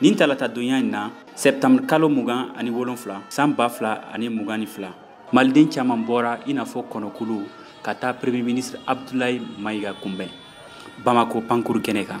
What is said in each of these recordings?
nin talata donya in na sɛptambre kalo mugan ani wolonfila san ba fila ani mugan ni fila maliden caman bɔra i n'a fɔ kɔnɔkulu ka taa premier ministre abdulayi mayiga kunbɛn bamako pankurun kɛnɛ kan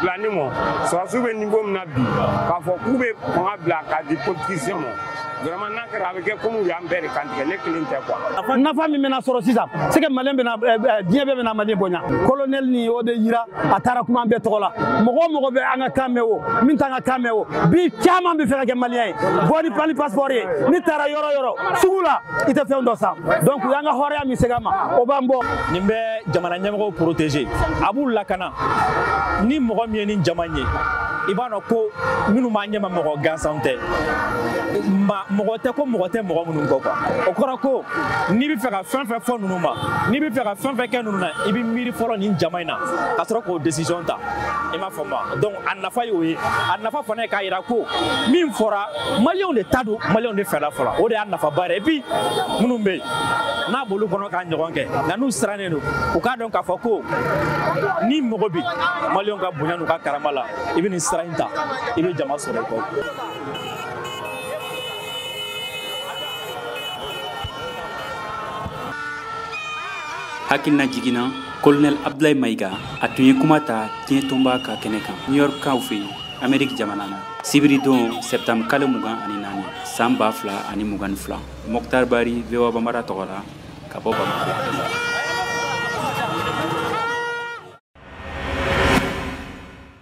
bila ne ma sɔrɔdasiw bɛ nivo min na bi k'a fɔ k'u bɛ fanga bila k'a di politisiyɛnw ma vraiment n'a kɛra a bɛ kɛ komi u y'an bɛɛ de kantigɛ ne kelen tɛ quoi. nafa min bɛna sɔrɔ sisan c'est que maliyɛn bɛna eh, eh, diɲɛ bɛɛ bɛna maliyɛn bonya colonel nin y'o de yira a taara kuma an bɛɛ tɔgɔ la mɔgɔ o mɔgɔ bɛ an ka kan mɛn o min t'an ka kan mɛn o bi caman bɛ fɛ ka kɛ maliyɛn ye bɔ ni mali passeport ye n'i taara yɔrɔ o yɔrɔ sugu la i tɛ fɛn dɔ san donc u y'an ka hɔrɔnya min segin an ma o b'an bɔ. nin bɛ jamana ɲɛmɔgɔw protéger a b'u lakana. ni mɔgɔ min ye nin jama ye i b'a dɔn ko minnu b'an ɲɛma mɔgɔ gansanw tɛ mɔgɔ tɛ ko mɔgɔ tɛ mɔgɔ minnu kɔ quoi o kɔrɔ ko n'i bɛ fɛ ka fɛn o fɛn fɔ ninnu ma n'i bɛ fɛ ka fɛn o fɛn kɛ ninnu na i bɛ miiri fɔlɔ nin jama in na ka sɔrɔ k'o decision ta i m'a faamu wa donc a nafa y'o ye a nafa fana ye k'a jira ko min fɔra maliyɛnw de ta don maliyɛnw de fɛla fɔlɔ o de y'a nafaba ye et puis minnu bɛ yen n'a b'olu kɔnɔ k'a ɲɔgɔn kɛ nka n'u siran nen don u k'a dɔn k'a fɔ ko ni mɔgɔ bi maliyɛnw ka bonya n'u ka karama la i bɛ nin sira in ta i bɛ jama sɔrɔ i kɔ hakilina jigin na kolonɛl abdulayi mayiga a tun ye kuma ta diɲɛ tɔnba ka kɛnɛ kan new york kaw fɛ yen ameriki jamana na sibiridon sɛptambre kalo mugan ani naani san ba fila ani mugan ni fila mɔktar bari voa bambara tɔgɔ la ka bɔ bamakɔ